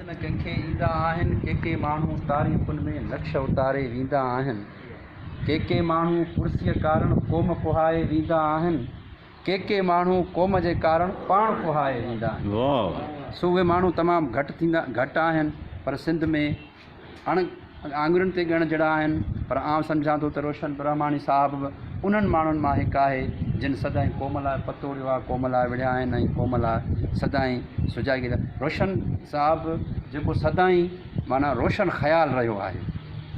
ڪن ڪن کي ايندا آهن. ڪي ڪي ماڻهو تاريخن ۾ نقش اتاري ويندا آهن. ڪي ڪي ماڻهو ڪرسيء ڪارڻ قوم ڪوهائي ويندا آهن. ڪي ڪي ماڻهو قوم جي ڪارڻ پاڻ ڪوهائي ويندا آهن. سو اهي ماڻهو تمام گهٽ آهن پر سنڌ ۾. اڻ آڱرين تي ڳڻڻ جھڙا آھن، پر آئون سمجھان ٿو ته روشن برهماڻي صاحب به انهن ماڻهن مان هڪ آهي، جن سدائين قوم لاء پتو اڙيو آهي، قوم لاء وڙهيا آهن ۽ قوم لاء سدائين سجائي گذاري آهي. روشن صاحب جيڪو سدائين معنيٰ روشن خيال رهيو آهي،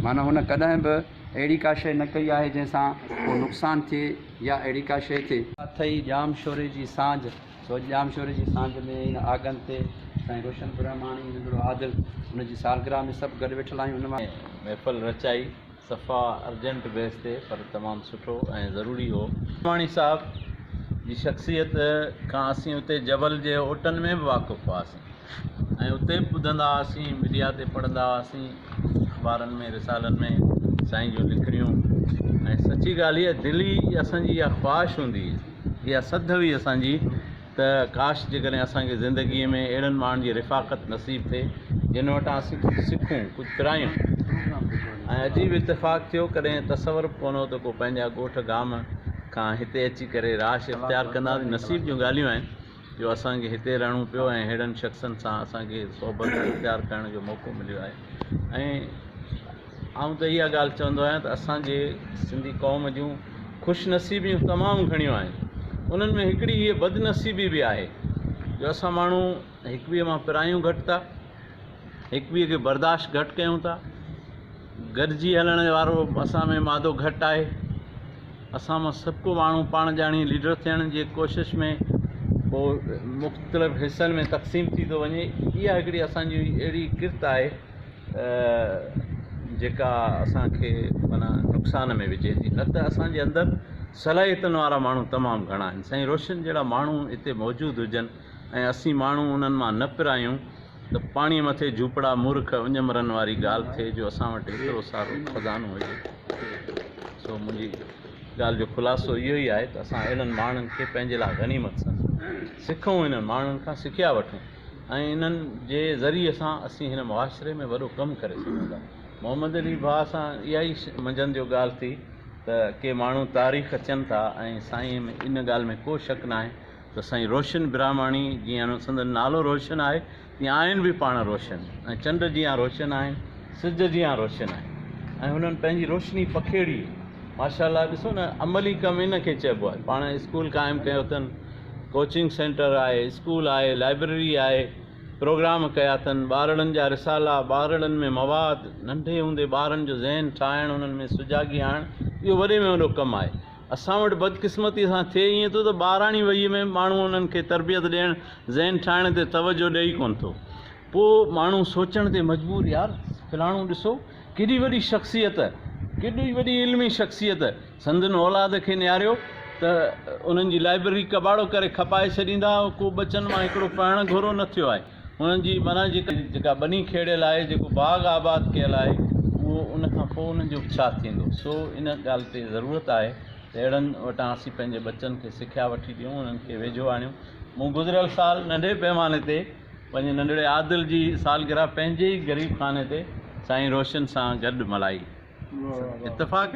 معنيٰ هن ڪڏهن به اهڙي ڪا شيء نه ڪئي آهي، جنهن سان ڪو نقصان ٿئي يا اهڙي ڪا شيء ٿئي. اٿئي ڄام شوري جي سانجهه. سوڄ ڄامشوري جي سانجهه ۾ هن آگن تي سائين روشن برهماڻي، ننڍڙو عادل، ان جي سالگرهه ۾ سڀ گڏ ويٺل آهيون. ان مان. محفل رچائي صفا ارجنٽ بيس تي پر تمام سٺو ۽ ضروري هو. برهماڻي صاحب جي شخصيت کان اسين اتي جبل جي اوٽن ۾ به واقف هئاسين ۽ اتي به ٻڌندا هئاسين ميڊيا تي پڙهندا هئاسين اخبارن ۾ رسالن ۾ سائين جون لکڻيون ۽ سچي ڳالهه هي دلي اسان جي اها خواهش هوندي هئي. اها سڌ هئي اسان جي ته ڪاش جيڪڏهن اسان کي زندگيء ۾ اهڙن ماڻهن جي رفاقت نصيب ٿئي جن وٽان اسين ڪجهه سکون ڪجهه پرايون ۽ عجيب اتفاق ٿيو ڪڏهن تصور به ڪونه هو ته ڪو پنهنجا ڳوٺ گام کان هتي اچي ڪري راش اختيار ڪندا نصيب جون ڳالهيون آهن جو اسان کي هتي رهڻو پيو ۽ ههڙن شخصن سان اسان کي صحبت اختيار ڪرڻ جو موقعو مليو آهي ۽ آئون ته اها ڳالهه چوندو آهيان ته اسانجي سنڌي قوم جون خوش نصيبيون تمام گهڻيون آهن انهن ۾ هڪڙي هيء بد نصيبي به آهي جو اسان ماڻهو هڪ ٻئي مان پرايون گهٽ ٿا هڪ ٻئي کي برداشت گهٽ ڪيون ٿا گڏجي هلڻ وارو اسان ۾ مادو گهٽ آهي اسان مان سڀڪو ماڻهو پاڻ ڄاڻي ليڊر ٿيڻ جي ڪوشش ۾ ڪو مختلف حصن ۾ تقسيم ٿي ٿو وڃي اها هڪڙي اسانجي اهڙي ڪرت آهي جيڪا اسانکي معنيٰ نقصان ۾ وجهي ٿي نه ته اسانجي اندر صلاحيتن وارا ماڻهو تمام گهڻا آهن سائين روشن جهڙا ماڻهو هتي موجود هجن ۽ اسين ماڻهو انهن مان نه پرايون ته پاڻيء مٿي جهوپڙا مورک اڃمرن واري ڳالهه ٿئي جو اسان وٽ ايترو سارو خزانو هجي. سو منهنجي ڳالهه جو خلاصو اهو ئي آهي ته اسان اهڙن ماڻهن کي پنهنجي لاء غنيمت سمجهون، سکون انهن ماڻهن کان سکيا وٺون ۽ انهن جي ذريعي سان اسين هن معاشري ۾ وڏو ڪم ڪري سگهون ٿا. محمد علي ڀاء سان اها ئي منجهند جو ڳالهه ٿي ته ڪي ماڻهو تاريخ چين ٿا ۽ سائين ان ڳالهه ۾ ڪو شڪ ناهي ته سائين روشن براهماڻي جيان سندن نالو روشن آهي تيئن آهن به پاڻ روشن ۽ چنڊ جيان روشن آهن سج جيان روشن آهن ۽ هنن پنهنجي روشني پکيڙي ماشاء الله ڏسو نه عملي ڪم ان کي چئبو آهي پاڻ اسڪول قائم ڪيو اٿن ڪوچنگ سينٽر آهي اسڪول آهي لائبرري آهي پروگرام ڪيا اٿن ٻارڙن جا رسالا ٻارڙن ۾ مواد ننڍي هوندي ٻارن جو ذهن ٺاهڻ انهن ۾ سجاڳي آڻڻ اهو وڏي ۾ وڏو ڪم آهي اسان وٽ بدقسمتيء سان ٿئي ائين ٿو ته ٻاراڻي وهيء ۾ ماڻهو انهن کي تربيت ڏيڻ، ذهن ٺاهڻ تي توجهه ڏئي ڪونه ٿو. پوء ماڻهو سوچڻ تي مجبور يار فلاڻو ڏسو ڪيڏي وڏي شخصيت، ڪيڏي وڏي علمي شخصيت سندن اولاد کي نهاريو ته انهن جي لائبرري ڪٻاڙو ڪري کپائي ڇڏيندا، ڪو ٻچن مان هڪڙو پڙهڻ گهرو نه ٿيو آهي. هنن جي معنيٰ جيڪا ٻني کيڙيل آهي، جيڪو باغ آباد ڪيل آهي، اهو ان کان پوء انهن جو به ڇا ٿيندو؟ سو ان ڳالهه تي ضرورت آهي ته اهڙن وٽان اسين پنهنجي ٻچن کي سکيا وٺي ڏيون، انهن کي ويجهو آڻيون. مون گذريل سال ننڍي پيماني تي پنهنجي ننڍڙي عادل جي سالگرهه پنهنجي ئي غريب خاني تي سائين روشن سان گڏ ملهائي. اتفاق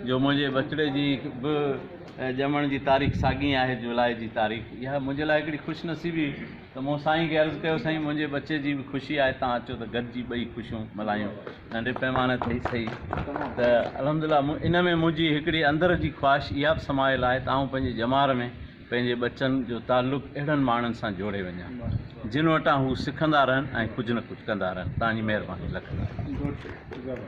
جو منهنجي ٻچڙي جي به ڄمڻ جي تاريخ ساڳي آهي جولاء جي تاريخ اها منهنجي لاء هڪڙي خوش نصيبي ته مون سائين کي عرض ڪيو سائين منهنجي ٻچي جي به خوشي آهي تان اچو ته گڏجي ٻئي خوشيون ملهايون ننڍي پئماني تي ئي سهي ته الحمدلله ان ۾ منهنجي هڪڙي اندر جي خواهش اها به سمايل آهي ته آئون پنهنجي ڄمار ۾ پنهنجي ٻچن جو تعلق اهڙن ماڻهن سان جوڙي وڃان جن وٽان هو سکندا رهن ۽ ڪجهه نه ڪجهه ڪندا رهن تان جي مهرباني لک